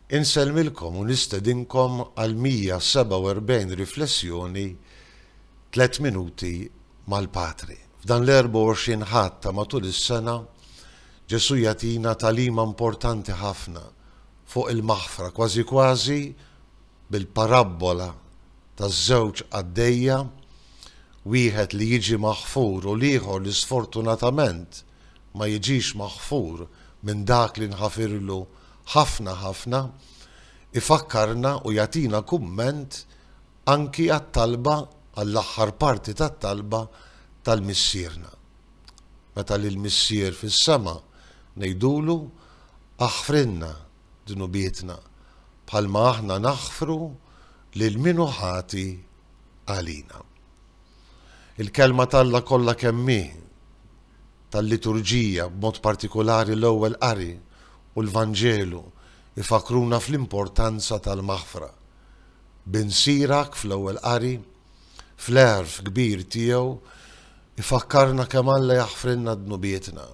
Insellmilkom u nistedinkom għal 147 riflessjoni Tliet Minuti mal-Patri. F'dan l-24 Ħadd ta' matul is-sena, Ġesù jagħtina tagħlima importanti ħafna fuq il-maħfra, kważi kważi bil-parabbola taż-żewġ qaddejja, wieħed li jiġi maħfur u l-ieħor li sfortunatament ma jiġix maħfur minn dak li nħafirlu ħafna ħafna, ifakkarna u jagħtina kumment anki għat-talba, għall-aħħar parti tat-talba tal-Missierna. Meta lill-Missier fis-sema ngħidulu, Aħfrilna dnubietna, bħalma aħna naħfru lil min hu ħati għalina. Il-Kelma t'Alla kollha kemm hi, tal-liturġija, b'mod partikulari l-Ewwel Qari u l-Vanġelu, ifakkruna fl-importanza tal-maħfra. Bin Sirak, fl-Ewwel Qari, fl-għerf kbir tiegħu, ifakkarna kemm Alla jaħfrilna dnubietna.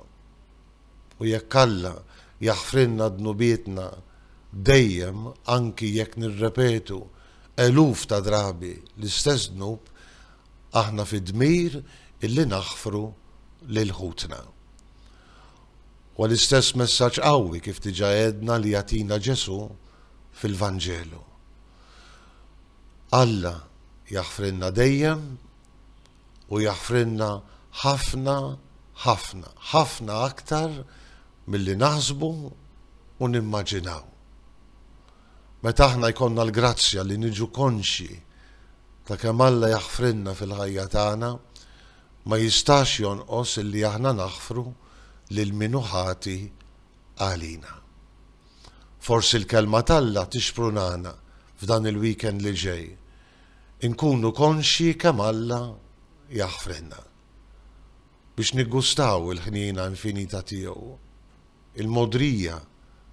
U jekk Alla jaħfrilna dnubietna dejjem anki jekk nirrepetu eluf ta' drabi l-istess dnub, aħna fi dmir illi naħfru lil ħutna. Huwa l-istess messaġġ qawwi kif diġà għedna li jagħtina Ġesù fil-Vanġelu. Alla jaħfrilna dejjem u jaħfrilna ħafna ħafna, ħafna aktar milli naħsbu u nimmaġinaw. Meta aħna jkollna l-grazzja li niġu konxji ta' kemm Alla jaħfrilna fil-ħajja tagħna, ma jistax jonqos illi aħna naħfru lil min hu ħati għalina. Forsi l-Kelma t'Alla tixprunana f'dan il-weekend li ġej inkunu konxji kemm Alla jaħfrilna, biex niggustaw il-ħniena infinita tiegħu. il-mogħdrija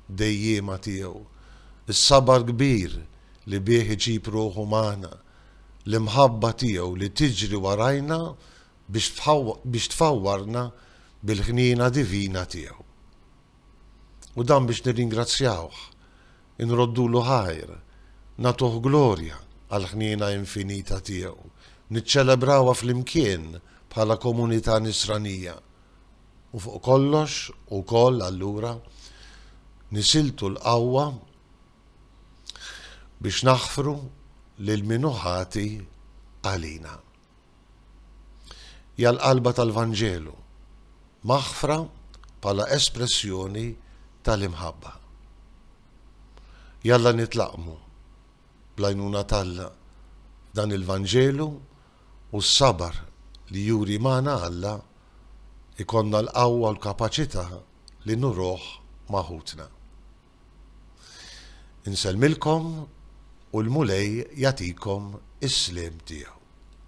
dejjiema tiegħu, is-sabar kbir li bih iġib ruħu magħna, l-imħabba tiegħu li tiġri warajna biex tfawwarna bil-ħniena divina tiegħu. U dan biex nirringrazzjawh, inroddulu ħajr, nagħtuh glorja għall-ħniena infinita tiegħu, niċċelebrawha flimkien bħala komunità Nisranija. u fuq kollox ukoll allura nisiltu l-qawwa biex naħfru lil min hu ħati għalina. Hija l-qalba tal-Vanġelu, maħfra bħala espressjoni tal-imħabba. Jalla nitlaqmu bl-għajnuna t'Alla f'dan il-Vanġelu u s-sabar li juri magħna Alla, ikollna l-qawwa u l-kapaċità li nuruh ma' ħutna. Insellmilkom u l-Mulej jagħtikom is-sliem tiegħu.